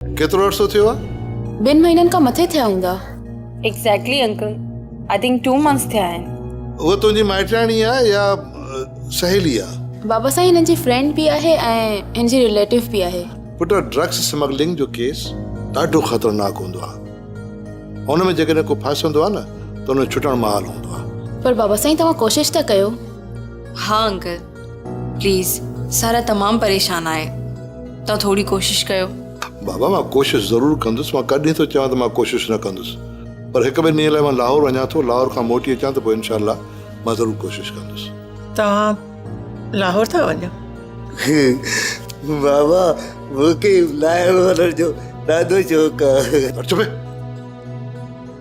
ڪيترو عرصو ٿيو آ؟ ٻن مهينن کان مٿي ٿيا هوندا. Exactly uncle I think two months ٿيا آهن. هوء تنهنجي مائٽياڻي آ يا سهيلي آ؟ بابا سائين هن جي فرينڊ به آهي ۽ هن جي رليٽو به آهي. پٽ ڊرگس سمگلنگ جو ڪيس ڏاڍو خطرناڪ هوندو آ. ان ۾ جيڪڏهن ڪو ڦاسندو آ نه ته ان جو ڇٽڻ محال هوندو آ. پر بابا سائين توهان ڪوشش ته ڪيو. ها انڪل. پليز سارا تمام پريشان آهي توهان ٿوري ڪوشش ڪيو. بابا مان ڪوشش ضرور ڪندس مان ڪڏهن ٿو چوان ته مان ڪوشش نه ڪندس پر هڪ ٻن ڏينهن لاء مان لاهور وڃان ٿو لاهور کان موٽي اچان ته پوء انشاء الله مان ضرور ڪوشش ڪندس. توهان لاهور ٿا وڃو. بابا مون کي لاهور وڃڻ جو ڏاڍو شوق آهي. چپ.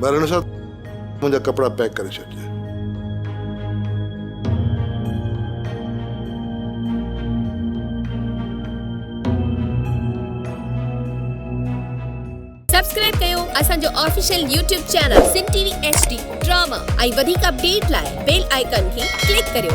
ٻرڻ سان منهنجا ڪپڙا پيڪ ڪري ڇڏجي. سبسڪرائب ڪيو اسان جو official YouTube channel Sindh T V H D drama ۽ وڌيڪ اپڊيٽ لاء بيل آئيڪان کي ڪلڪ ڪريو.